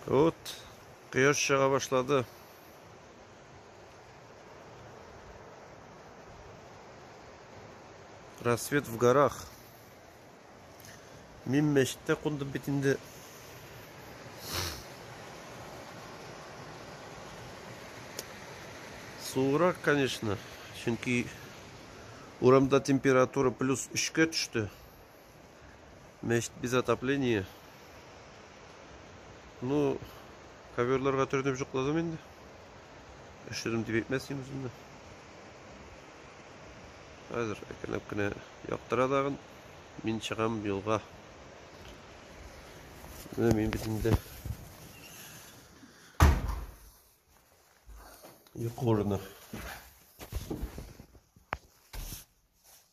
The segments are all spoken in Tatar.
Вот, кояш чыга башлады. Рассвет в горах. Мин мәчеттә кундым бит инде. Суырак, конечно, чөнки урамда температура плюс 3-кә төште. Мәчет без отопление. Ну, коверларга төренеп жукладым инде. Өштердем дип әйтмәсем үземне. Хәзер әкренләп кенә яктыра тагын. Мин чыгам юлга. Менә мин бит инде йокы урыны.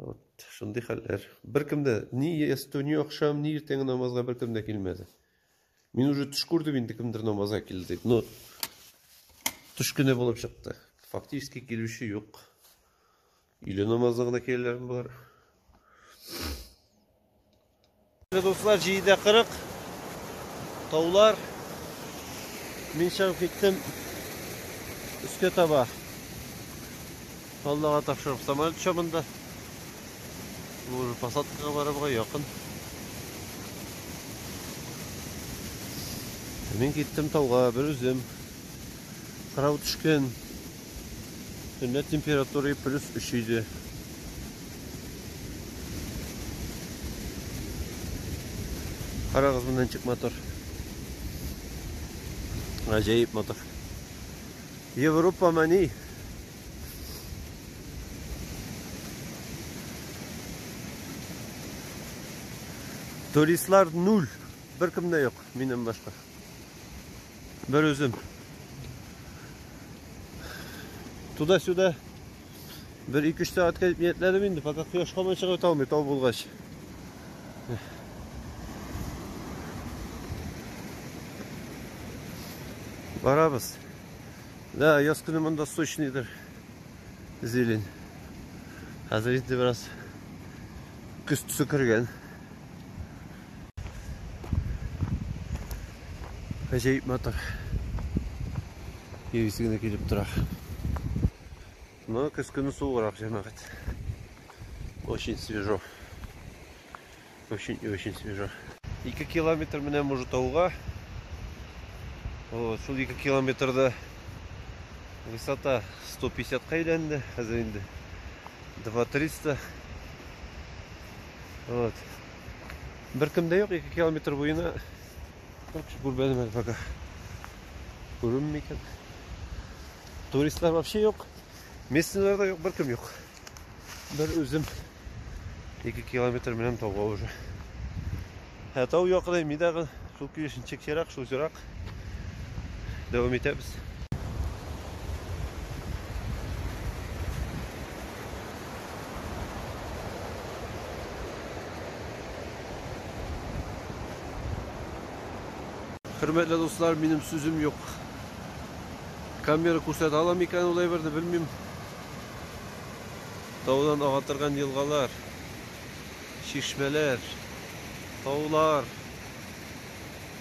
Вот, шундый хәлләр. Беркем дә ни ястү, ни акшам, ни иртәнге намазга беркем дә килмәде. Мин уже төш күрдем инде кемдер намазга килде дип. Но төш кенә булып чыкты. Фактически килүче юк. Иле намазына гына килгәннәр бар. Дуслар, җиде кырык таулар. Мин чыгып киттем өскә таба. Аллага тапшырып самолет чабында. Уже посадкага барырга якын. Мин киттем тауга бер үзем. Кырау төшкән. Төнлә температура плюс 3 иде. Карагыз монда ничек мотор. Гаҗәеп мотор. Европа мани. Туристлар нуль. Беркем дә юк, минем башка. Бер үзем. Туда-сюда бер 2-3 сәгатькә дип ниятләдем инде, пока кояш камай чыгып та алмый тау булгач. Барабыз. Да, яз көне монда сочныйдыр. Зелень. Хәзер инде бераз көз төсе кергән. Гаҗәеп матур. Егиз генә килеп тора. Но көз көне суыграк җәмәгать. Очень свежо. Очень и очень свежо. 2 километр менә Мужутауга. Вот, шул 2 километрда высота 150 ка әйләнде. Хәзер инде 2300. Вот. Беркем дә юк, 2 километр буена. Бер кеше күрмәдем әле пока. Күренми икән. Туристлар вообще юк. Местныйлар да юк, беркем юк. Бер үзем 2 километр менәм тауга уже. Ә тау якын, мидагы шул килешенчек ерак, шул ерак. Дәвам итәбез. Хөрмәтле дуслар, минем сүзем юк. Камера күрсәтә аламы икән ул әйберне белмим. Таудан ага торган елгалар, чишмәләр, таулар.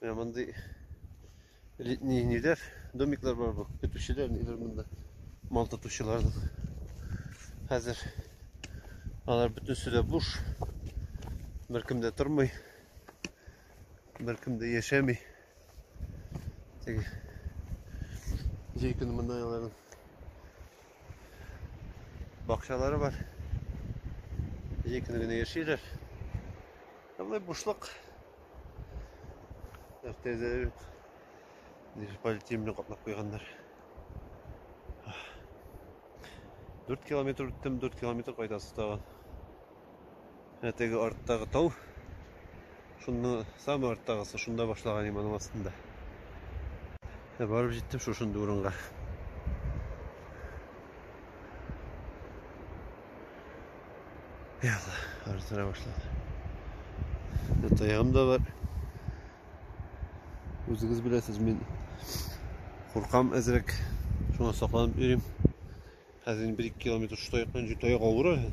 Менә мондый летний ниләр, домиклар бар бу. Көтүчеләр ниләр монда. Мал тотучыларның. Хәзер алар бөтенесе дә буш. Беркем дә тормый. Беркем дә яшәми. Теге җәй көне монда аларның Бакчалары бар. Җәй көне генә яшиләр. Болай бушлык. Тәрәзә юк. Полиэтилен белән каплап куйганнар. 4 километр үттем, 4 километр кайтасы тагын. Ә теге арттагы тау, шунны самый арттагысы, шунда башлаган иман астында. Ә барып җиттем шушында урынга. Яла, арзыра башлады. Ә таягым да бар. Үзегез беләсез, мин куркам әзрәк. Шуңа сакланып йөрим. Хәзер 1-2 километр шута якын җитә авыр әле.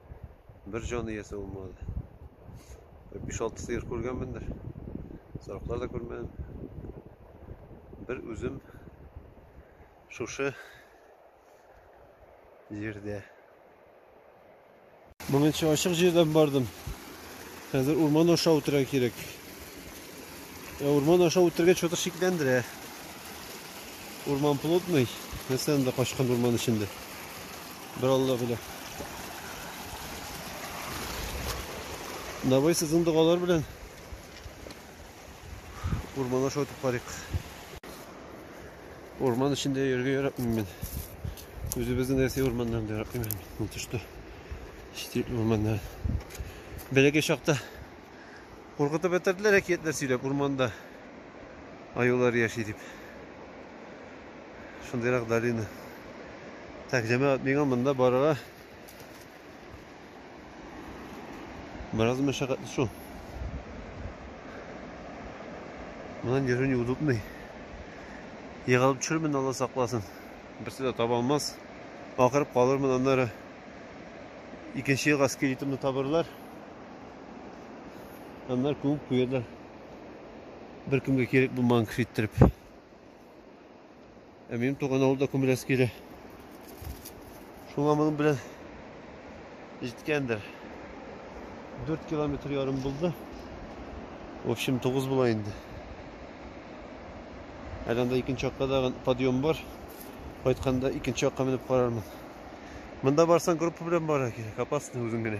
бер җан иясе булмады. Бер 5-6 сыер күргәнмендер. Сарыклар да күрмәдем. Бер үзем шушы җирдә. Моңынча ачык җирдән бардым. Хәзер урман аша үтәргә кирәк. Ә урман аша үтергә чатыр шикләндерә. Урман плотный. Нәрсә анда качкан урман эчендә? Бер Алла белә. Давай сезнең догалар белән урман аша үтеп карыйк. Урман эчендә йөрергә яратмыйм мин. Үзебезнең Россия урманнарын да яратмыйм. Тышта. Чит урманнар. Бәләкәй чакта Куркытып бетерделәр әкиятләр сөйләп, урманда аюлар яши дип. Шундыйрак долина. Так, җәмәгать, миңа монда барырга бераз мәшәкатьле шул. Моннан йөрү неудобный. Егылып төшермен, Алла сакласын. Берсе дә таба алмас. Акырып калырмын, аннары икенче елга скелетымны табырлар. Аннар күмеп куялар. Беркемгә кирәк булмаган кеше иттереп. Ә минем туган авылда күмеләсе килә. Шуңа моның белән җиткәндер. 4 километр ярым булды. В общем, 9 була инде. Әле анда икенче якта да подъем бар. Кайтканда икенче якка менеп карармын. Монда барсаң группа белән барырга кирәк, опасно үзең генә.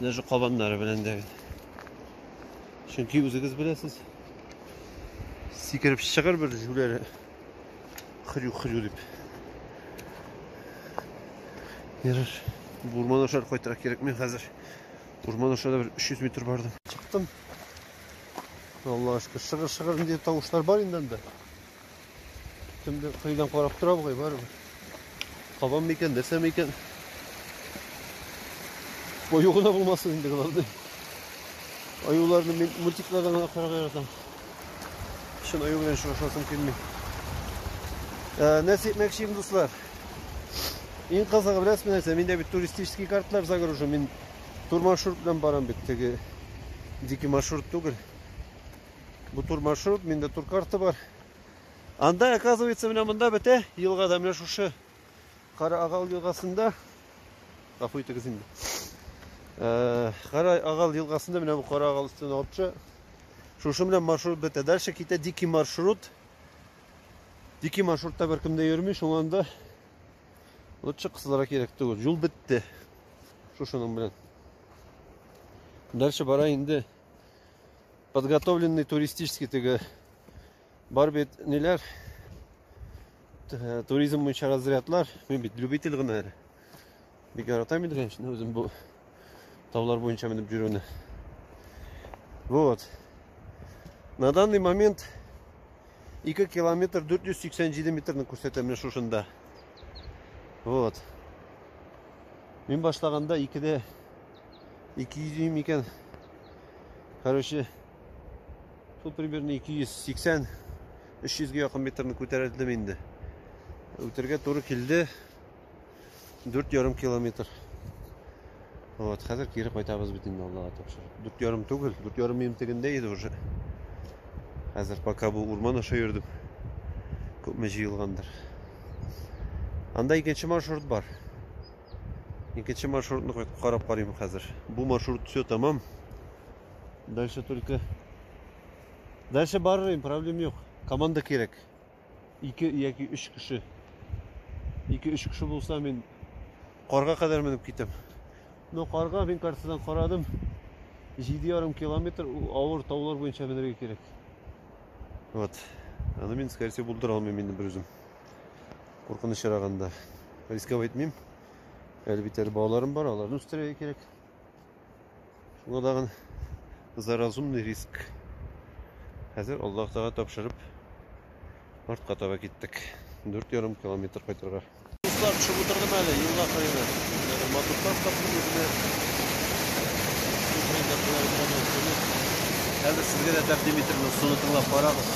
Даже кабаннары белән дә. Чөнки үзегез беләсез. Сикереп чыгыр бер җүләре. Хрю-хрю дип. Ярар. Урман аша кайтырак кирәкми хәзер. Урман аша да бер 300 метр бардым. Чыктым. Аллага шөкер, шыгыр-шыгыр инде тавышлар бар инде анда. Кемдер кыйдан карап тора бугай барыбер. Кабан микән, нәрсә микән? Бою гына булмасын инде главный. Аюларны мин мультиклардан гына карарга яратам. Чын аю белән очрашасым килми. Ә, нәрсә әйтмәкче идем, дуслар? Иң кызыгы беләсезме нәрсә? Миндә бит туристический картлар загружен. Мин тур маршрут белән барам бит. Теге дикий маршрут түгел. Бу тур маршрут, миндә тур карта бар. Анда, оказывается, менә монда бетә, елгада, менә шушы Кара Агал елгасында. Гафу итегез инде. Э, Кара Агал елгасында менә бу Кара Агал өстен алчы. Шушы белән маршрут бетә. Дальше китә дикий маршрут. Дикий маршрутта беркем дә йөрми, шуңа анда лучше кызларга кирәк түгел. Юл бетте. Шушының белән. Дальше бара инде. подготовленный туристический теге бар бит ниләр туризм буенча разрядлар мин бит любитель гына әле бик яратам инде конечно үзем бу таулар буенча менеп йөрүне вот на данный момент 2 километр 487 метрны күрсәтә менә шушында вот мин башлаганда икеде 200 дюйм икән. Короче, шул примерно 280 300 ге якын метрны күтәрелдем инде. Үтергә туры килде 4,5 километр. Вот, хәзер кире кайтабыз бит инде Аллага тапшырып. 4,5 түгел, 4,5 минут тегендә иде уже. Хәзер пока бу урман аша йөрдем. Күпме җыелгандыр. Анда икенче маршрут бар. Икенче маршрутны кайтып карап карыйм хәзер. Бу маршрут все тәмам. Дальше только Дальше барырым, проблем юк. Команда кирәк. Ике яки өч кеше. Ике өч кеше булса мин карга кадәр менеп китәм. Но карга мин картадан карадым. 7,5 километр авыр таулар буенча менергә кирәк. Вот. Аны мин, скорее всего, булдыра алмыйм инде бер үзем. куркынычрагында рисковать итмим әле бит әле балаларым бар аларны үстерергә кирәк шуңа тагын за разумный риск хәзер аллаһ тага тапшырып артка таба киттек дүрт ярым километр кайтырга дуслар төшеп утырдым әле елга кырыена матурлар таптым үземә хәзер сезгә дә тәкъдим итермен соны тыңлап карагыз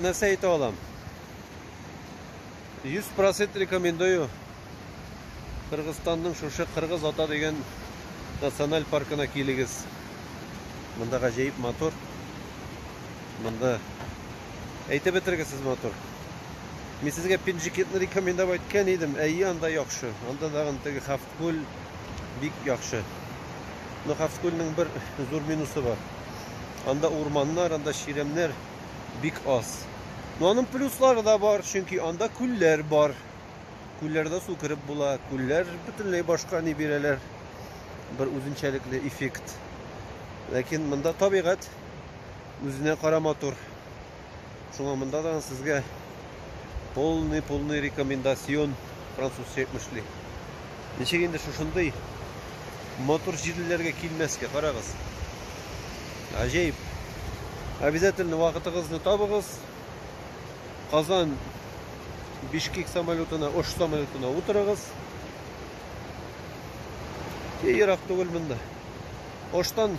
Нәрсә әйтә алам? 100% рекомендую. Кыргызстанның шушы Кыргыз ата дигән националь паркына килегез. Монда гаҗәеп матур. Монда әйтеп бетергесез матур. Мин сезгә Пинжикетны рекомендовать иткән идем. Әйе, анда яхшы. Анда тагын теге хаф Күл бик яхшы. Но Хавскүлнең бер зур минусы бар. Анда урманнар, анда чирәмнәр бик аз. Но аның плюслары да бар, чөнки анда күлләр бар. Күлләрдә су кереп була. Күлләр бөтенләй башка ни бирәләр. Бер үзенчәлекле эффект. Ләкин монда табигать үзенә кара матур. Шуңа монда да сезгә полный-полный рекомендацион французча әйтмешли. Ничек инде шушындый матур җирлеләргә килмәскә, карагыз. Гаҗәеп. Обязательно вакытыгызны табыгыз. Казан Бишкек самолетына, Ош самолетына утырыгыз. И ерак түгел монда. Оштан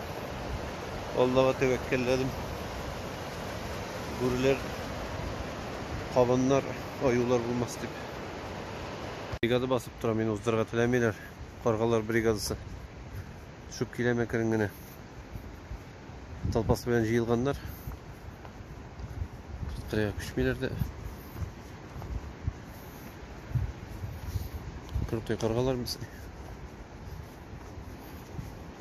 Аллага тәвәккәлләдем. Бүреләр, кабаннар, аюлар булмас дип. Бригада басып тора, мин уздырырга теләмиләр. Каргалар бригадасы. Төшеп килә мәкерен генә. Толпасы белән җыелганнар. Кырыга күчмиләр дә. Кырыкый каргалар без.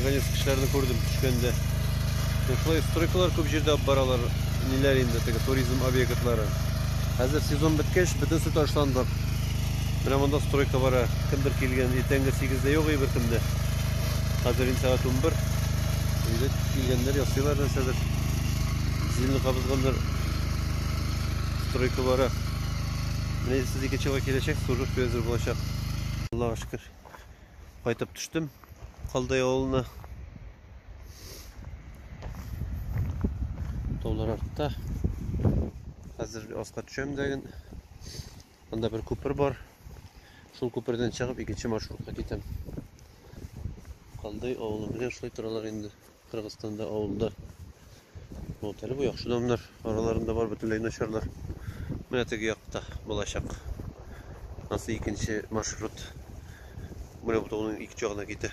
Наконец кешеләрне күрдем төшкәндә. Шулай стройкалар күп җирдә алып баралар. Ниләр инде теге туризм объектлары. Хәзер сезон беткәч, бөтенесе ташландык. Менә монда стройка бара. Кемдер килгән, иртәнге 8-дә юк бер кемдә. Хәзер инде сәгать 11. Өйдә килгәннәр ясыйлар нәрсәдер. Зилне кабызганнар. Стройка бара. Менә сез икенче елга киләчәк, служб әзер булачак. Аллага шөкер. Кайтып төштем Калдай авылына. Таулар артта. Хәзер аска төшәм дә ген. Анда бер күпер бар. Шул күпердән чыгып икенче маршрутка китәм. Калдай авылы белән шулай торалар инде. Кыргызстанда авылда вот әле бу яхшы домнар араларында бар бөтенләй начарлар. Менә теге якта булачак. Анысы икенче маршрут. Менә бутауның ике ягына китә.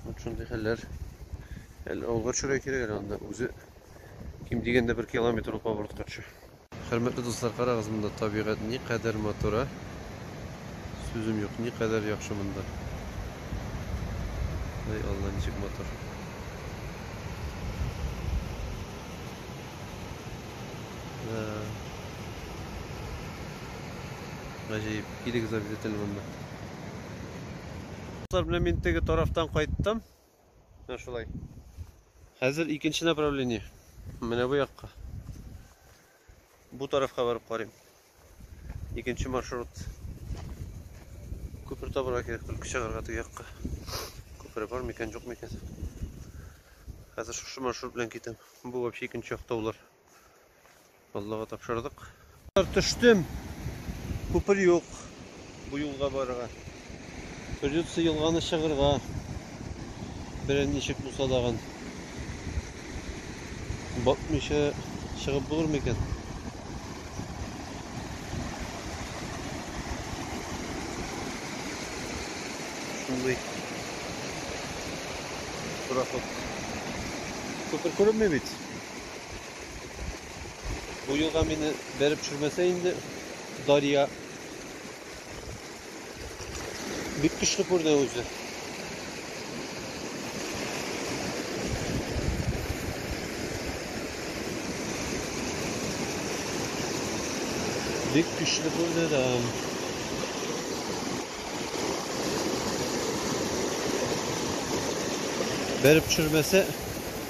Вот шундый хәлләр. Әле авылга төшәргә кирәк әле анда үзе ким дигәндә бер километр ул поворотка төшә. Хөрмәтле дуслар, карагыз монда табигать ни кадәр матур, ә? Сүзем юк, ни кадәр яхшы монда. Ай Алла, ничек матур. Да. Гаҗәеп, килегез обязательно монда. Дуслар, менә мин теге тарафтан кайттым. Менә шулай. Хәзер икенче направление. Менә бу якка. Бу тарафка барып карыйм. Икенче маршрут. Күпер табырга кирәк, түлке чыгарга теге якка. Күпере бар микән, юк микән. Хәзер шушы маршрут белән китәм. Бу вообще икенче як таулар. Аллага тапшырдык. Төштем. Күпер юк. Бу юлга барырга. Придется елганы чыгырга. Берән ничек булса дагын. Батмыйча чыгып булыр микән? Шундый. Проход. Күпер күренмей бит. Бу юлга мине бәреп төшермәсә инде Дарья бик көчле күрде үзе. Бик көчле күрде дә. Бәреп төшермәсә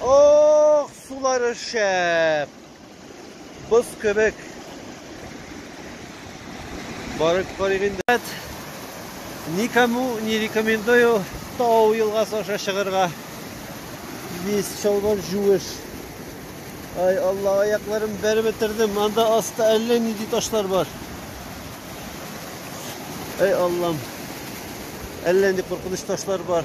Ох, сулары шәп. Боз кебек. Барып карыйк инде. Никому не рекомендую Тау елгасы аша чыгырга. Весь чалбар жуеш. Ай, Алла, аякларым бәреп бетердем. Анда аста әллә нинди ташлар бар. Ай, Аллам. Әллә нинди куркыныч ташлар бар.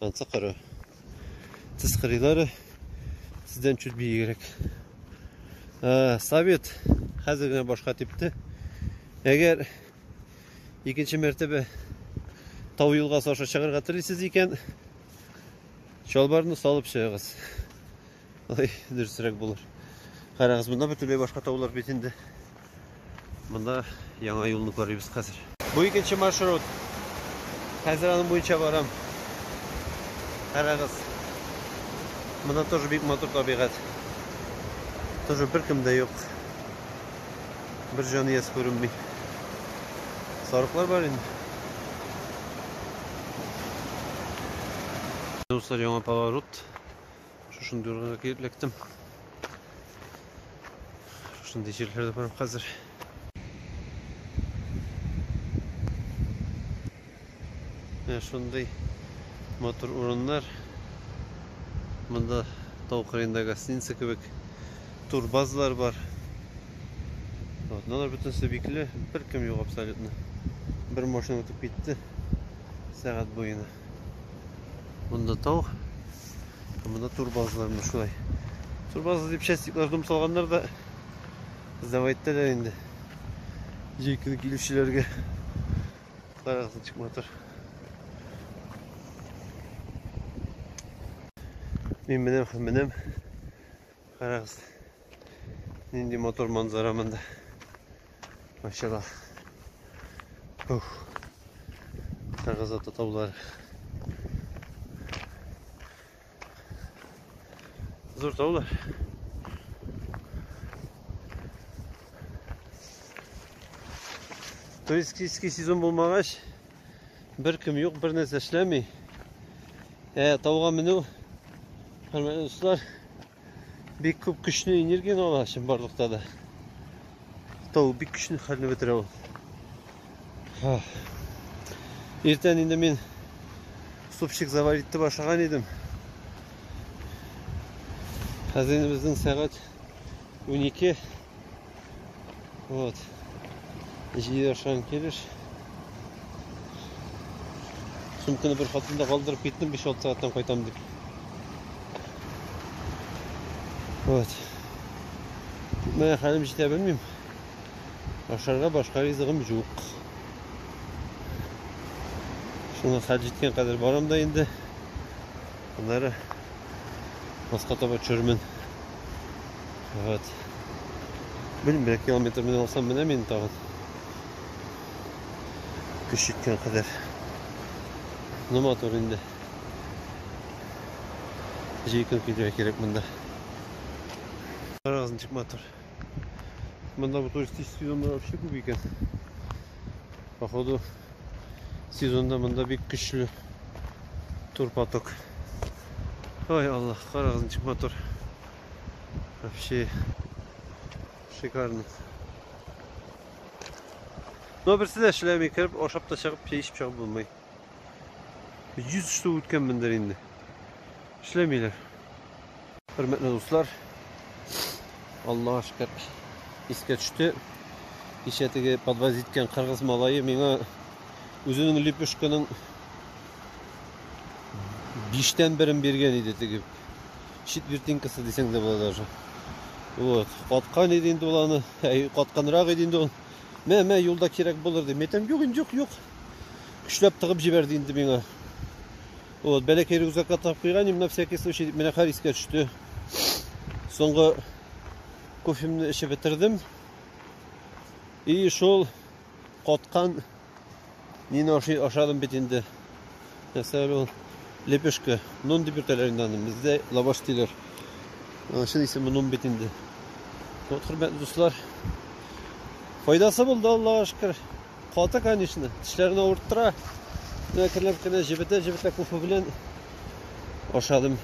Анса кара. Сез кырыйлары сездән чуть биегрәк. Ә, совет хәзер генә башка типте. Әгәр икенче мәртәбә тау елгасы аша чыгарга телисез икән, чалбарны салып чыгыгыз. Ой, дөресрәк булыр. Карагыз, монда бөтенләй башка таулар бит инде. Монда яңа юлны карыйбыз хәзер. Бу икенче маршрут. Хәзер аның буенча барам. Карагыз. Монда тоже бик матур табигать. Тоже беркем дә юк. Бер җан иясе күренми. Сарыклар бар инде. Дуслар, яңа поворот. Шушындый урынга килеп эләктем. Шушындый җирләрдә барам хәзер. Менә шундый матур урыннар. Монда тау кырыенда гостиница кебек турбазлар бар. Вот, надо бөтенесе бикле, бер кем юк абсолютно. Бер машина үтеп китте сәгать буена. Монда тау. Монда турбазлар менә шулай. Турбазы дип частиклар дом салганнар да сдавай иттеләр инде. Җәй көне килүчеләргә карагыз ничек матур. Мин менәм һәм менәм. Карагыз, нинди мотор манзара монда. Машала. Ух. Карагыз ата таулар. Зур таулар. Туристический сезон булмагач, Беркем юк, бернәрсә эшләми. Ә тауга менү, хөрмәтле дуслар, бик күп көчне энергияне ала чын барлыкта да. Тау бик көчле хәлне бетерә ул. Иртән инде мин супчик заварить итеп ашаган идем. Хәзер инде безнең сәгать 12. Вот. Җыер шан килеш. Сумканы бер хатында калдырып киттем, 5-6 сәгатьтән кайтам дип. Вот. Менә хәлем җитә белмим. Ашарга башка ризыгым юк. Шуңа хәл җиткән кадәр барам да инде. Аннары баска таба төшермен. Вот. Белмим, бер километр менә алсам менә мин тагын. Көч җиткән кадәр. Ну матур инде. Җәй көн килергә кирәк монда. Разын чик матур. Монда бу туристический зона вообще күп икән. Походу сезонда монда бик көчле турпоток. Ой, Аллах, карагыз ничек матур. Вообще шикарно. Но берсе дә эшләми кереп, ашап та чыгып, чәй эчеп чыгып булмый. 100 штук үткән мендер инде. Эшләмиләр. Хөрмәтле дуслар, Аллага шөкер, искә төште. Кичә теге подвоз иткән кыргыз малае миңа үзенең лепешканың биштән берен биргән иде теге. Чит вертинкасы дисәң дә була даже. Вот, каткан иде инде ул аны, әй, катканрак иде инде ул. Мә, мә, юлда кирәк булыр ди. Мәйтәм, юк, юк, юк. Көчләп тыгып җибәрде инде миңа. Вот, бәләкәй рюкзакка тап куйган, именно всякий случай дип, менә хәл искә төште. Соңгы кофемне эчеп бетердем. И шул коткан нине ашый ашадым бит инде. Нәрсә ул? Лепешка. Нон дип йөртәләр инде аны. Бездә лаваш диләр. Чын исеме нон бит инде. Вот, хөрмәтле дуслар. Файдасы булды, Аллага шөкер. Каты, конечно, тешләрне авырттыра. Әкренләп кенә җебетә-җебетә кофе белән ашадым.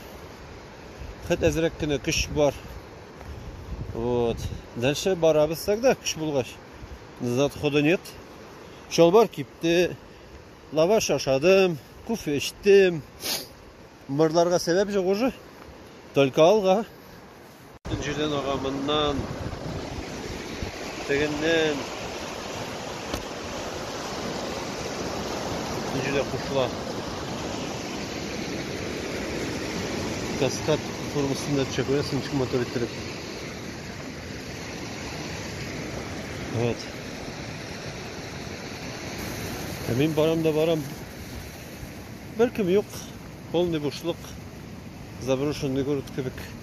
Хәт әзрәк кенә көч бар. Вот. Дальше барабыз тогда, көч булгач. Назад хода нет. Чалбар кипте. Лаваш ашадым, кофе эчтем. Мырларга сәбәп жоқ уже. Только алга. Җирдән ага моннан, тегеннән. Җирдә кушыла. Каскад формасында төшә күрәсең, ничек матур иттереп. Вот. Ә мин барам да барам. Беркем юк, полный бушлык, заброшенный город кебек.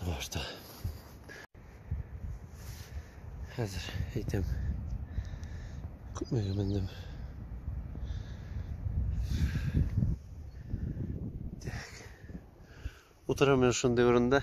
Башта. Хәзер әйтәм. Күпмегә мендем. Так. Утырам мин шундый урында.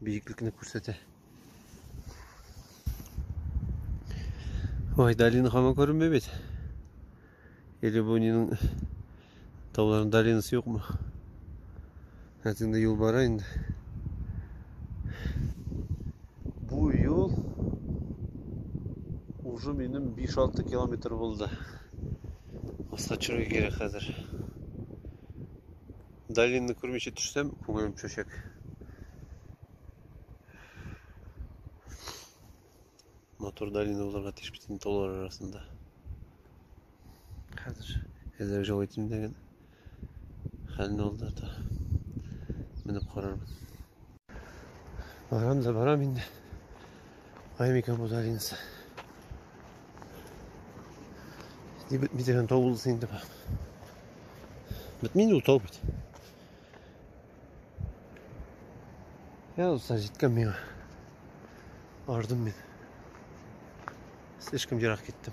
биеклекне күрсәтә. Ой, долина һаман күренмәй бит. Или бу нинең тауларның долинасы юкмы? Хәзер инде юл бара инде. Бу юл уже минем 5-6 километр булды. Аста төшәргә кирәк хәзер. Долинны күрмичә төшсәм, күңелем төшәчәк. Матур долина булырга тиеш бит инде таулар арасында. Хәзер әзер җол итмдеген хәлне алда та менеп карармын. Барам да барам инде. Аймика Мудалинса. Ди бит мидерен тау булсын инде бар. Бит мин утау бит. Я уса җиткән миңа. Ардым мин. Слишком ерак киттем.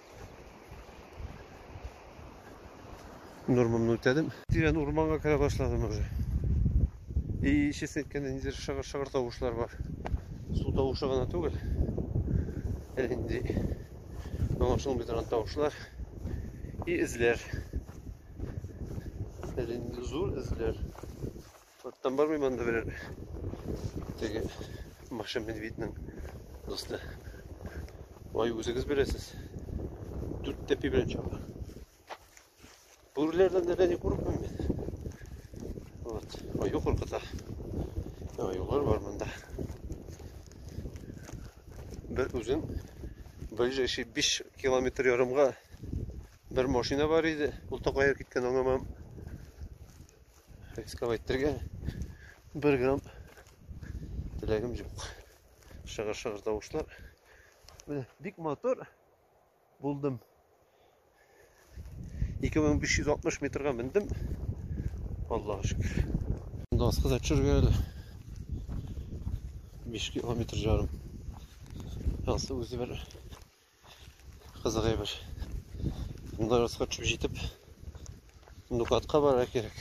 Нормамны үтәдем. Тирән урманга керә башладым уже. И чис әйткәндә ниндидер шыгыр-шыгыр тавышлар бар. Су тавышы гына түгел. Ә инде аңлашылмый торган тавышлар и эзләр. Әле инде зур эзләр. Оттан бармый монда берәр теге Маша Медведьның дусты. Ай, үзегез беләсез. Дүрт тәпи белән чаба. Бүреләрдән дә не курыкмыйм мин. Вот. Аю куркыта. Аюлар бар монда. Бер үзем ближайший 5 километр ярымга бер машина бар иде. Ул тагы кайда киткән аңламам. Рискап әйтергә бер грамм теләгем юк. Шыгыр-шыгыр тавышлар. Менә бик мотор булдым. 2560 метрга мендем. Аллаһ шөкер. Монда аска да төшергә әле. 5 километр жарым. Янсы үзе бер Кызык әйбер. Монда расход төшеп җитеп, Нукатка барырга кирәк.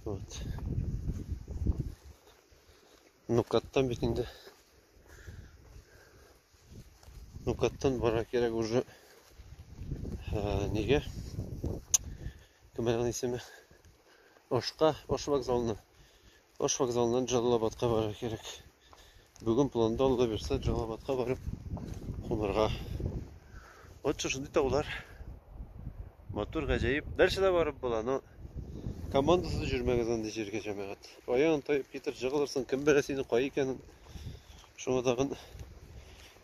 Вот. Нукаттан бит инде. Нукаттан барырга кирәк уже. Ә, нигә? Кем аның исеме? Ошка, Ош вокзалына. Ош вокзалыннан Җалалабадка барырга кирәк. Бүген планда Алла бирсә, Җалалабадка барып кунырга. Вот шундый таулар. Матур, гаҗәеп. Дальше да барып була, но командасыз җөрмәгез андый җиргә, җәмәгать. Аян тайып китер, җыгылырсың, кем белә синең кай икәнен. Шуңа тагын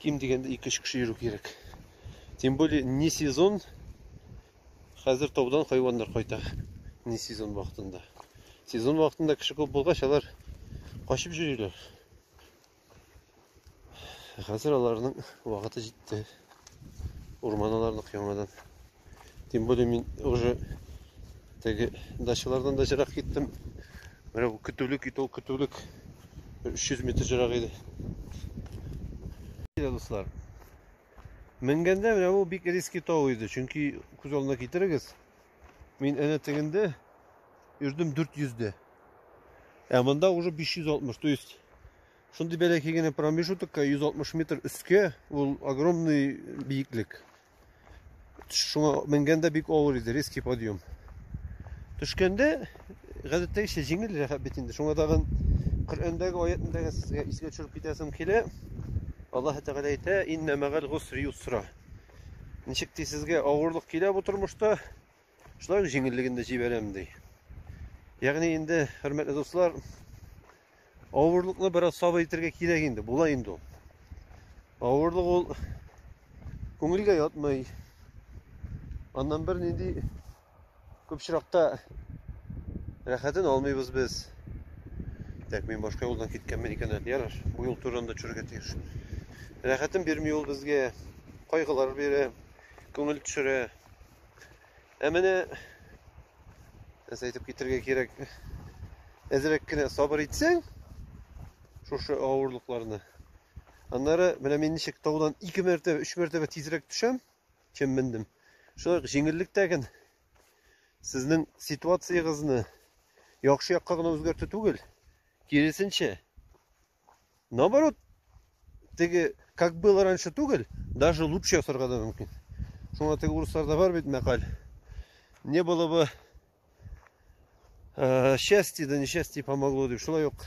ким дигәндә 2-3 кеше йөрү кирәк. Тем более не сезон, Хәзер таудан хайваннар кайта. Не сезон вакытында. Сезон вакытында кеше күп булгач, алар качып йөриләр. Хәзер аларның вакыты җитте. Урман аларныкы яңадан. Тем более мин уже теге дачалардан да җырак киттем. Менә бу көтүлек ит, ул көтүлек 300 метр җырак иде. Дуслар, Менгәндә менә бу бик риски тау иде, чөнки күз алдына китерегез, мин әнә тегендә йөрдем 400 дә. Ә монда уже 560, то есть шундый бәләкәй генә промежутокка 160 метр өскә ул огромный биеклек. Шуңа менгәндә бик авыр иде, резкий подъем. Төшкәндә гадәттәгечә җиңел рәхәт бит инде. Шуңа тагын Коръәндәге аятны тагын сезгә искә төшереп китәсем килә. Аллаһ Тәгалә әйтә: "Инна мәгәл гусри юсра". Ничек ди сезгә авырлык килә бу тормышта, шулай ук җиңеллеген дә җибәрәм ди. Ягъни инде, хөрмәтле дуслар, Авырлыкны бераз сабыр итергә кирәк инде, була инде ул. Авырлык ул күңелгә ятмый. Аннан бер нинди күп чиракта рәхәтен алмыйбыз без. Так, мин башка юлдан киткәнмен икән әле. Яраш, бу юл турында төшәргә тиеш. Рәхәтен бирми ул безгә. Кайгылар бирә, күңел төшерә. Ә менә нәрсә әйтеп китергә кирәк. Әзрәк кенә сабыр итсәң, шушы авырлыкларны. Аннары менә мин ничек таудан 2 мәртәбә, 3 мәртәбә тизрәк төшәм, чем мендем. Шулай җиңеллек тәген сезнең ситуациягызны яхшы якка гына үзгәртү түгел, киресенчә, Наоборот, теге, как было раньше түгел, даже лучше ясарга да мөмкин. Шуңа теге урысларда бар бит мәкаль. Не было бы э, счастье, да несчастье помогло дип. Шулай ук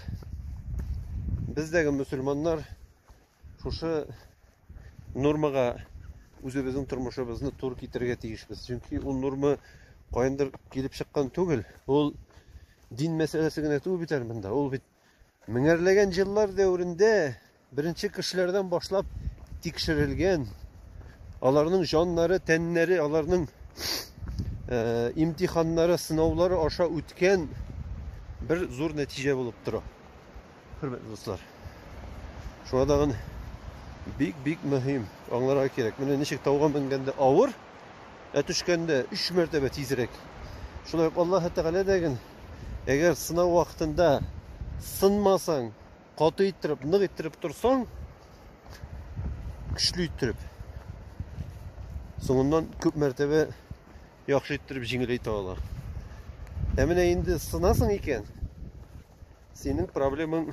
бездәге мөселманнар шушы нормага үзебезнең тормышыбызны тур китерергә тиешбез. Чөнки ул норма каяндыр килеп чыккан түгел. Ул дин мәсьәләсе генә түгел бит әле монда. Ул бит Меңәрләгән җиллар дәверендә беренче кешеләрдән башлап тикшерелгән, аларның җаннары, тәннәре, аларның э, имтиханнары, сынаулары аша үткән бер зур нәтиҗә булып тора. Хөрмәтле дуслар. Шуңа тагын бик-бик мөһим аңларга кирәк. Менә ничек тауга менгәндә авыр, ә төшкәндә 3 мәртәбә тизрәк. Шулай ук Аллаһ Тәгалә дәген Әгәр сынау вакытында сынмасаң, каты иттереп, нык иттереп торсаң, көчле иттереп, соңыннан күп мәртәбә яхшы иттереп җиңеләйтә ала. Ә менә инде сынасың икән, синең проблемаң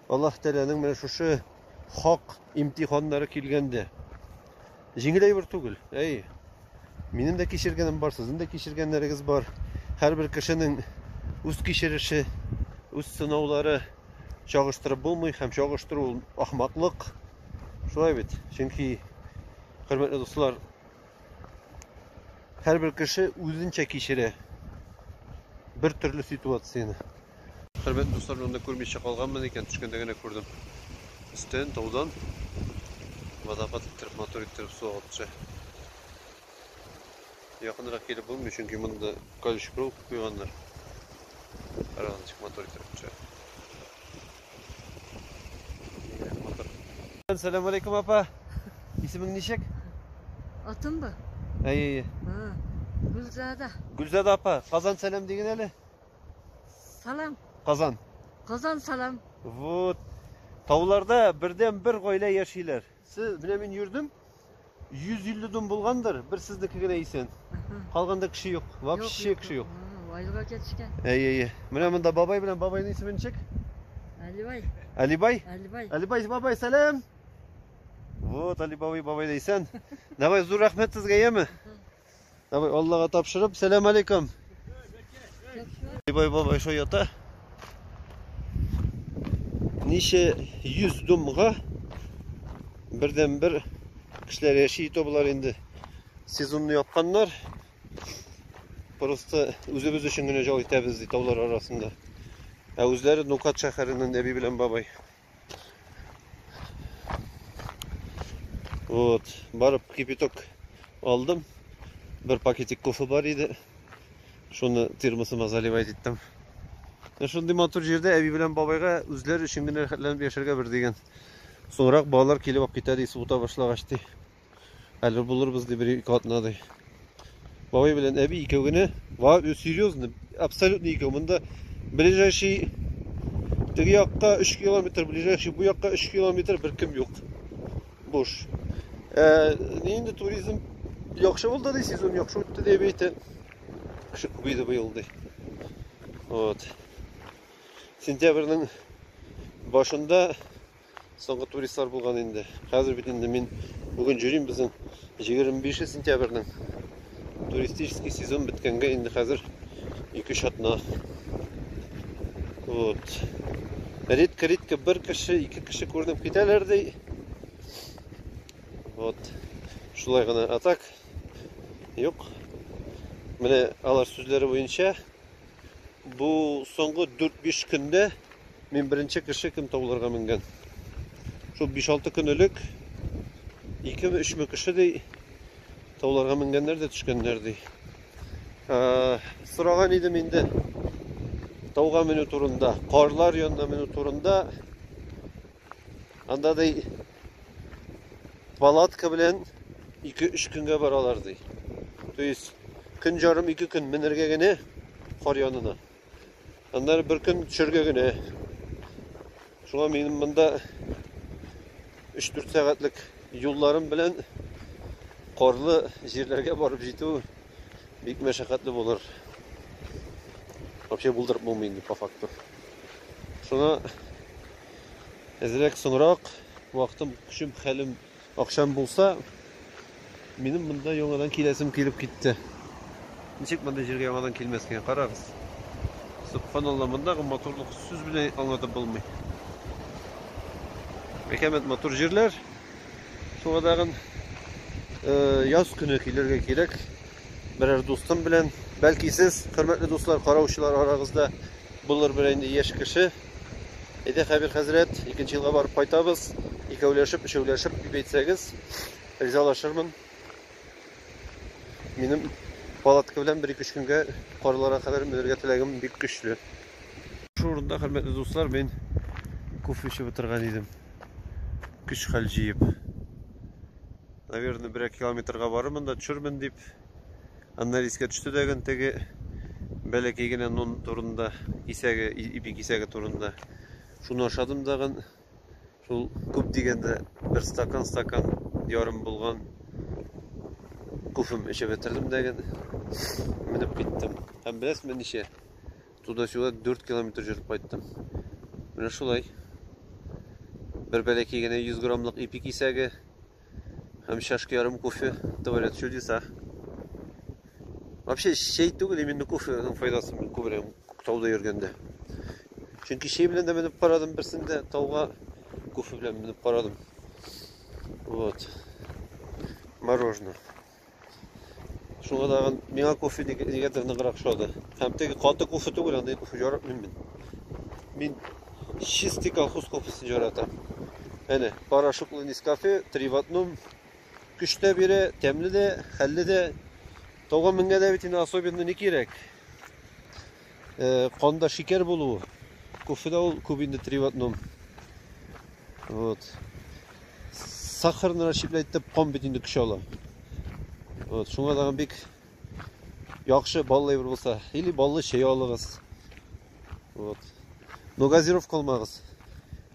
Аллаһ Тәгаләнең менә шушы хак имтиханнары килгәндә җиңел әйбер түгел. Әй, минем дә кичергәнем бар, сезнең дә кичергәннәрегез бар. Һәрбер кешенең үз кичереше, үз сынаулары чагыштырып булмый һәм чагыштыру ул ахмаклык. Шулай бит. Чөнки, хөрмәтле дуслар, һәрбер кеше үзенчә кичерә бер төрле ситуацияне. Хөрмәтле дуслар, мин анда күрмичә калганмын икән, төшкәндә генә күрдем. Өстен таудан водопад иттереп, мотор иттереп су агып төшә. Якынрак килеп булмый, чөнки монда колючий проволока куйганнар. Карагыз, ничек мотор иттереп төшә. Сәлам алейкум, апа. Исемең ничек? Атым ба? Әйе, әйе. Гүлзада. Гүлзада апа, Казан сәлам диген әле. Салам. Казан. Казан салам. Вот. Тауларда бердән бер гаилә яшиләр. Сез менә мин йөрдем. 150 дом булгандыр, бер сезнеке генә исән. Калганда кеше юк. Вообще кеше юк. Вайлыга кетишкән. Әйе, әйе. Менә монда бабай белән бабайның исемен чек. Алибай. Алибай? Алибай. Алибай бабай, сәлам. Вот Алибай бабай исән. Давай зур рәхмәт сезгә, яме? Давай, Аллаһка тапшырып, сәлам алейкум. Бай бабай шо ята. Ничә 100 думга бердән бер кешеләр яши итә болар инде. Сезонны япканнар. Просто үзебез өчен генә җал итәбез ди таулар арасында. Ә үзләре Нукат шәһәреннән әби белән бабай. Вот, барып кипяток алдым. Бер пакетик кофе бар иде. Шуны термосыма заливать иттем. Ә шундый матур җирдә әби белән бабайга үзләре өчен генә рәхәтләнеп яшәргә бер дигән. Соңрак балалар килеп алып китәр исе ута башлагач ди. Әлбәт булырбыз ди бер ике атнадай. Бабай белән әби икәү генә. Ва, серьезно, абсолютно икәү. Монда ближайший теге якка 3 километр, ближайший бу якка 3 километр беркем юк. Буш. Ә, инде туризм яхшы булды ди, сезон яхшы үтте дип әйтә. Кеше күбәйде быел ди. Вот. Сентябрьнең башында Соңгы туристлар булган инде. Хәзер бит инде мин бүген җөрим безнең 25 сентябрьнең туристический сезон беткәнгә инде хәзер 2 шатна. Вот. Редко редко бер кеше, ике кеше күренеп китәләр ди. Вот. Шулай гына атак. Юк. Менә алар сүзләре буенча Бу соңгы 4-5 көндә мин беренче кеше кем тауларга менгән. Шул 5-6 көн элек 2-3 мең кеше ди тауларга менгәннәр дә төшкәннәр ди. Сораган идем инде тауга менү турында, карлар янына менү турында. Анда ди палатка белән 2-3 көнгә баралар ди. То есть көн жарым 2 көн менергә генә кар янына. Аннары бер көн төшергә генә. Шуңа минем монда 3-4 сәгатьлек юлларым белән карлы җирләргә барып җитү бик мәшәкатьле булыр. Вообще булдырып булмый инде по факту. Шуңа әзрәк соңрак вакытым, көчем, хәлем, акчам булса, минем монда яңадан киләсем килеп китте. Ничек мондый җиргә яңадан килмәскә? Карагыз. Субханалла, мондагы матурлык сүз белән аңлатып булмый. Бәкәмәт матур җирләр. Шуңа тагын э, яз көне килергә кирәк. Берәр дустым белән. Бәлки сез, хөрмәтле дуслар, караучылар арагызда булыр бер инде яшь кеше. Әйдә, Хәбир хәзрәт, икенче елга барып кайтабыз. Икәүләшеп, өчәүләшеп дип әйтсәгез, ризалашырмын. Минем палатка белән бер ике көнгә карларга кадәр менергә теләгем бик көчле. Шул урында, хөрмәтле дуслар, мин кофе эчеп утырган идем. Көч-хәл җыеп. Наверное, берәр километрга барырмын да төшермен дип Аннары искә төште тәген теге бәләкәй генә нон турында, кисәге, ипи кисәге турында. Шуны ашадым дагын. Шул күп дигәндә бер стакан, стакан ярым булган кофем эчеп бетердем дәген. Менеп киттем. Һәм беләсезме ничә? Туда-сюда 4 километр жүреп кайттым. Менә шулай. Бер бәләкәй генә 100 граммлык ипи кисәге Һәм чашка ярым кофе творят чудеса. Вообще чәй түгел, именно кофеның файдасын мин күбрәк тауда йөргәндә. Чөнки чәй белән дә менеп карадым берсендә, тауга кофе белән менеп карадым. Вот. Мороженое. Шуңа тагын миңа кофе нигәдер ныграк ошады. Һәм теге каты кофе түгел, андый кофе яратмыйм мин. Мин чистый колхоз кофесын яратам. Әнә, порошоклы Нескафе, три в одном. Көч тә бирә, тәмле дә, хәлле дә. Тауга менгәндә бит инде особенно ни кирәк? Э, канда шикәр булуы. Кофеда ул күп инде три в одном. Вот. Сахарны расщеплять итеп кан бит инде көч ала. Вот, шуңа тагын бик яхшы баллы әйбер булса, или баллы чәй алыгыз. Вот. Но газировка алмагыз.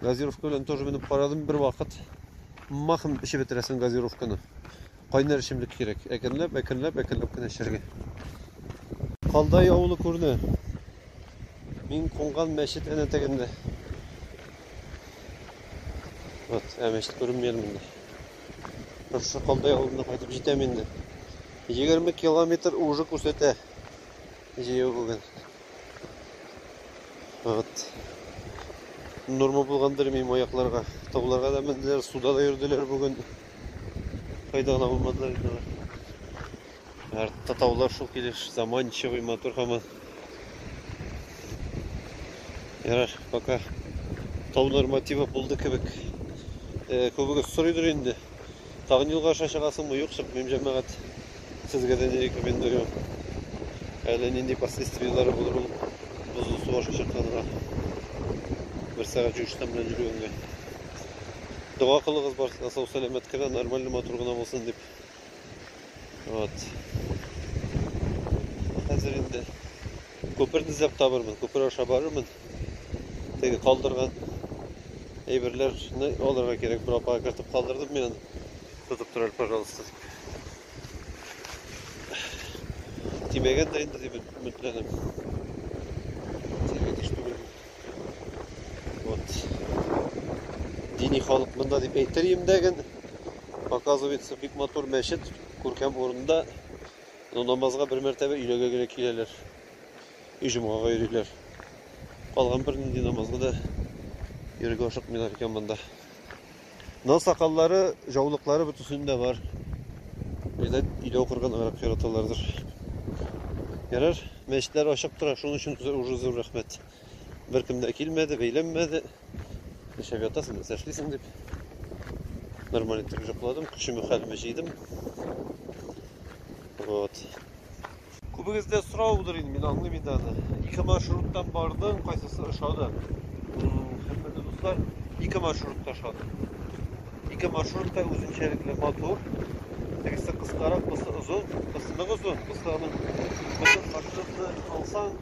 Газировка белән тоже менеп карадым бер вакыт. Махым эчеп бетерәсең газировканы. Кайнар эчемлек кирәк. Әкренләп, әкренләп, әкренләп кенә эчәргә. Калдай авылы күренә. Мин кунган мәчет әнә тегендә. Вот, ә мәчет күренми әле монда. Шушы Калдай авылына кайтып җитәм инде. 20 километр уже күрсәтә. Җәяү бүген. Вот. Норма булгандыр мин аякларга. Тауларга да менделәр, суда да йөрделәр бүген. Кайда гына булмадылар инде алар. Артта таулар шул килеш заманчивый матур һаман. Ярар, пока тау нормативы булды кебек. Э, Күбегез сорыйдыр инде. Тагын юлга аша чыгасыңмы, юксык, мем җәмәгать. Сезгә дә не рекомендую. Әле нинди последствияләре булыр ул бозлы су аша чыкканга. Бер сәгать юештан белән йөргәнгә. Дога кылыгыз барсына сау сәламәт кенә, нормально матур гына булсын дип. Вот. Хәзер инде Күперне эзләп табырмын, күпер аша барырмын. Теге калдырган әйберләрне алырга кирәк. Бер апага кертеп калдырдым мин аны. Тотып тор әле, пожалуйста. Тимәгәндер инде дип өметләнәм. Тимәгән еш түгел. Вот. Дини халык монда дип әйтер имдәген. Показывается бик матур мәчет, күркәм урында. Ну, намазга бер мәртәбә өйләгә генә киләләр. И җомгага йөриләр. Калган бер нинди намазга да йөрергә ашыкмыйлар икән монда. Но сакаллары, җаулыклары бөтенсендә бар. Видать, өйдә укырганыграк яраталардыр. Ярар, мәчетләр ачык тора, шуның өчен уже зур рәхмәт. Беркем дә килмәде, бәйләнмәде. Нишләп ятасың, нәрсә эшлисең дип. Нормаль итеп җокладым, көчемә хәлемә җыйдым. Вот. Күбегездә сорау булыр инде, мин аңлыйм инде аны. Ике маршруттан бардың, кайсысы ошады? Хөрмәтле дуслар, ике маршрутта ошады. Ике маршрутта үзенчәлекле матур. Берсе кыскарак, берсе озын, берсе нык озын, берсе аның бөтен маршрутны алсаң,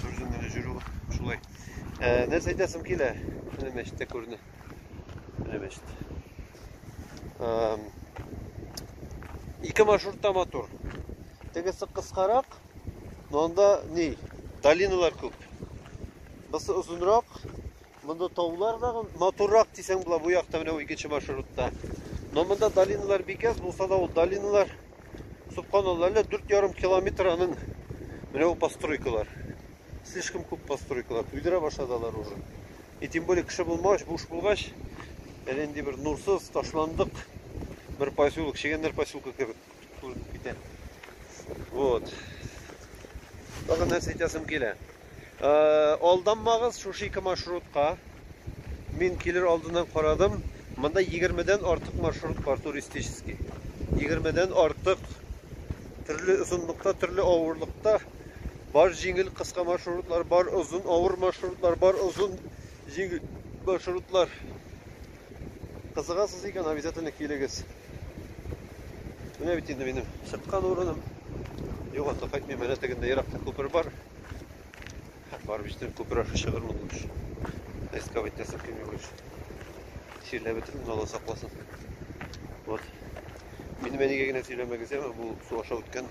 Күрдем менә җөрү шулай. Ә, нәрсә әйтәсем килә? Менә мәчеттә күренә. Менә мәчет. Ике маршрутта матур. Тегесе кыскарак, но анда ни? Долиналар күп. Бысы озынрак, Монда таулар да матуррак дисәң була бу якта менә икенче маршрутта. Но монда долиналар бик аз булса да ул долиналар субханалла әллә 4,5 километр аның менә бу постройкалар. Слишком күп постройкалар. Туйдыра башладылар уже. И тем более кеше булмагач, буш булгач, әле инде бер нурсыз ташландык бер поселок, чегәннәр поселкы кебек. Күренеп китә. Вот. Тагын нәрсә әйтәсем килә. Э, алданмагыз шушы ике маршрутка. Мин килер алдыннан карадым. Монда 20-дән артык маршрут бар туристический. 20-дән артык төрле озынлыкта, төрле авырлыкта бар җиңел кыска маршрутлар, бар озын авыр маршрутлар, бар озын җиңел маршрутлар. Кызыгасыз икән, обязательно килегез. Менә бит инде минем чыккан урыным. Юган да кайтмый, менә тегендә еракта күпер бар. Барып җитәм, күпер аша чыгырмын лучше. Эскап итәсем килми лучше. Сөйләп бетердем, Алла сакласын. Вот. Минем әнигә генә сөйләмәгез, яме, бу су аша үткән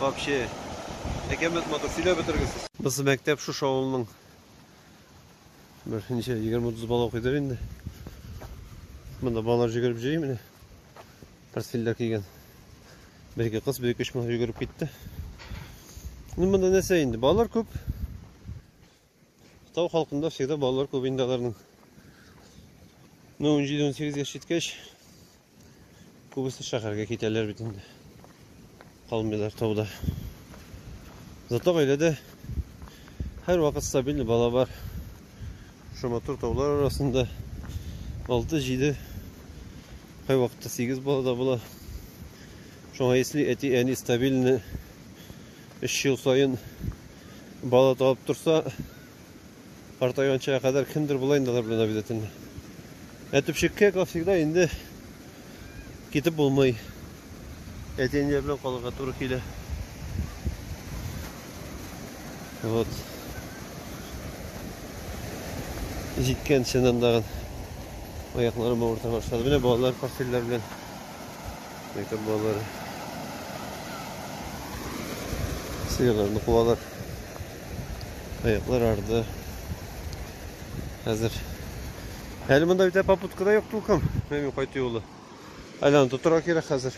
Вообще. Әкәмәт матур, сөйләп бетергесез. Быз мәктәп шушы авылның бер ничә 20-30 бала укыйдыр инде. Монда балалар җигереп җыйый менә. Портфельдә кигән. Бер ике кыз, бер ике җигереп китте. Ну монда нәрсә инде? Балалар күп. Тау халкында всегда балалар күп инде аларның. Ну, 17-18 яшь җиткәч, күбесе шәһәргә китәләр бит инде. Калмыйлар тауда. Зато гаиләдә һәр вакыт стабиль бала бар. Шушы матур таулар арасында 6-7 кай вакытта 8 бала да була. Шуңа если әти әни стабильны Өч ел саен бала табып торса, картайганчага кадәр кемдер була инде алар белән обязательно. Ә төпчеккә, как всегда, инде китеп булмый. Әти-әниләр белән калырга туры килә. Вот. Җиткән чыннан тагын аякларым авырта башлады. Менә балалар постельләр белән Мәктәп балалары. Сыерларны куалар. Аяклар арды. Хәзер. Әле монда бит попутка да юк тулкым. Мәмин кайту юлы. Айланып тотырга кирәк хәзер.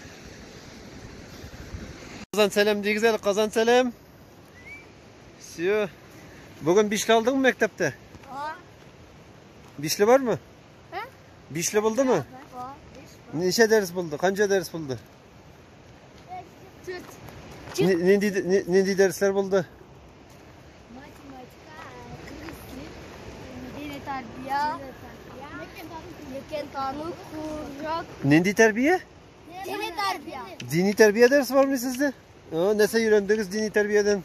Казан сәлам дигез әле, Казан сәлам. Все. Бүген бишле алдыңмы мәктәптә? Бишле бармы? Бишле булдымы? Ничә дәрес булды? Канча дәрес булды? Нинди нинди дәресләр булды? Математика, дини тәрбия, лекен тану, курак. Нинди тәрбия? Дини тәрбия. Дини тәрбия дәресе бармы сездә? Нәрсә өйрәндегез дини тәрбиядән?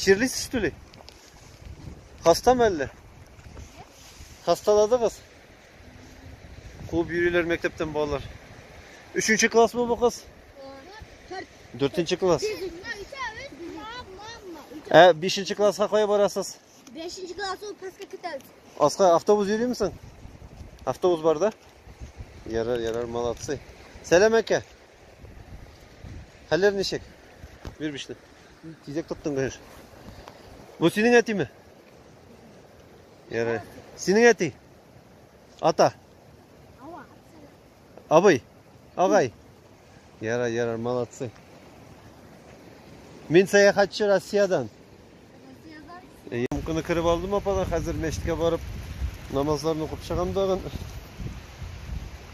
Чирлисез түли? Хастамы әллә? Хаstaladыгыз? Куып йөриләр мәктәптән балалар. Өченче классмы бу кыз? Дүртенче класс. Ә бишенче класска кая барасыз? Бишенче класс ул паска көтәбез. Аска автобус йөрим соң? Автобус бар да? Ярар, ярар, молодцы. Сәлам әкә. Хәлләр ничек? Бир бишне. Тизәк тоттың гөһеш. Бу синең әтиме? Ярый. Синең әти? Ата. Абый. Агай. Ярай, ярай, молодцы. Мин сәяхәтче Россиядән. Ямканы кереп алдым ападан, хәзер мәчеткә барып намазларны укып чыгам тагын.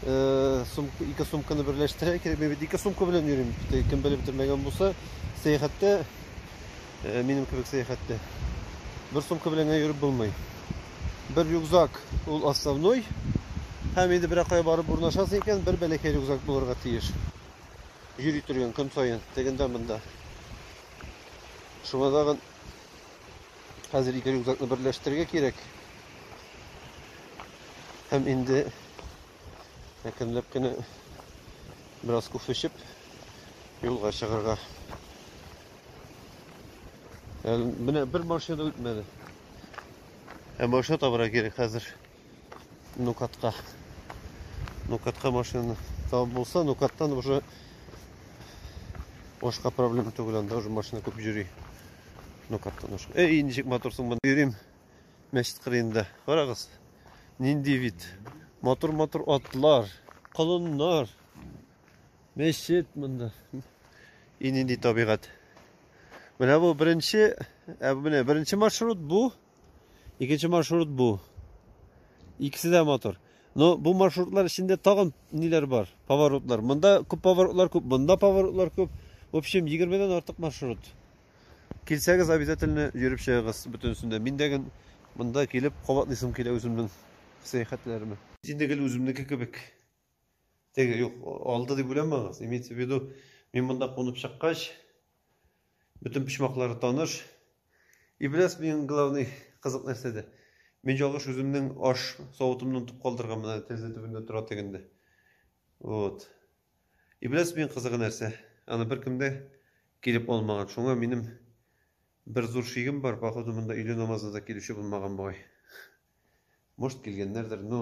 Э, сумка, ике сумканы берләштерә кирәк. Мин бит ике сумка белән йөрим. Кем белеп бетермәгән булса, сәяхәттә э, минем кебек сәяхәттә бер сумка белән генә йөреп булмый. Бер рюкзак ул основной. Һәм инде берәр кая барып урнашасың икән, бер бәләкәй рюкзак булырга тиеш. Йөри торган көн саен, тегендә монда. Шуңа тагын хәзер ике рюкзакны берләштерергә кирәк. Һәм инде әкренләп кенә бераз кофе эчеп юлга чыгарга. Менә бер машина үтмәде. Ә машина табарга кирәк хәзер. Нукатка. Нукатка машина табып булса, Нукаттан уже башка проблема түгел, анда уже машина күп йөри. Нукаттан уже. Эй, ничек моторсың мен йөрим мәчет кырыенда. Карагыз. Нинди вид. Мотор-мотор атлар, колоннар. Мәчет монда. И нинди табигать. Менә бу беренче, ә менә беренче маршрут бу. Икенче маршрут бу. Икесе дә матур. Но бу маршрутлар эчендә тагын ниләр бар? Поворотлар. Монда күп поворотлар күп, монда поворотлар күп. В общем, 20-дән артык маршрут. Килсәгез, обязательно йөреп чыгыгыз бөтенесендә. Мин дә ген монда килеп кабатлыйсым килә үземнең сәяхәтләремә. Инде гел үземнеке кебек. Теге юк, алды дип уйламагыз. Имеется в виду, мин монда кунып чыккач, бөтен почмаклары таныш. И беләс мин главный кызык нәрсәдә. Мин ялгыш үземнең аш савытымнан тып калдырган менә тәрәзә төбендә тора тегендә. Вот. И беләс мин кызыгы нәрсә. Аны беркемдә килеп алмаган. Шуңа минем бер зур шигем бар, походу монда өйле намазына да килүче булмаган бугай. Может килгәннәрдер, но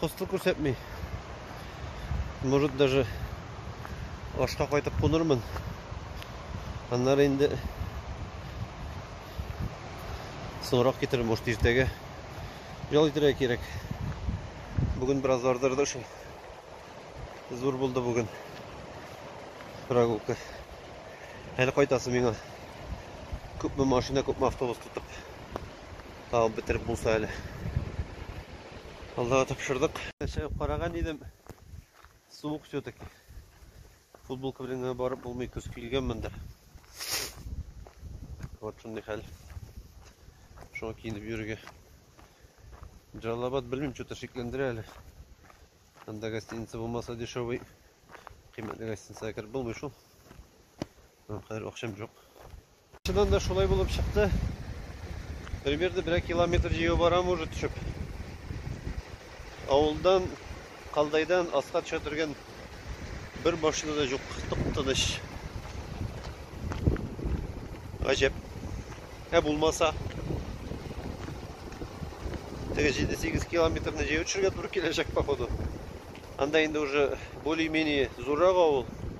Хостел күрсәтми. Может даже ашка кайтып кунырмын. Аннары инде соңрак китерер, может иртәгә. Ял итәргә кирәк. Бүген бераз ардырды шул. Зур булды бүген. Прогулка. Әле кайтасы миңа. Күпме машина, күпме автобус тотып. Табып бетереп булса әле. Аллага тапшырдык. Чыгып караган идем. Суык все-таки. Футболка белән генә барып булмый, көз килгәнмендер. Вот шундый хәл. Шуңа киенеп йөрергә. Джалабад белмим, что-то шикләндерә әле. Анда гостиница булмаса дешевый. Кыйммәтле гостиницага кереп булмый шул. Аңа кадәр акчам юк. Чыннан да шулай булып чыкты. Примерно берәр километр җәяү барам уже төшеп. Авылдан, Калдайдан аска төшә торган бер машина да юк. Тып-тыныч. Гаҗәп. Ә булмаса, теге 7-8 километрны җәяү төшергә туры киләчәк, походу. Анда инде уже более-менее зуррак авыл.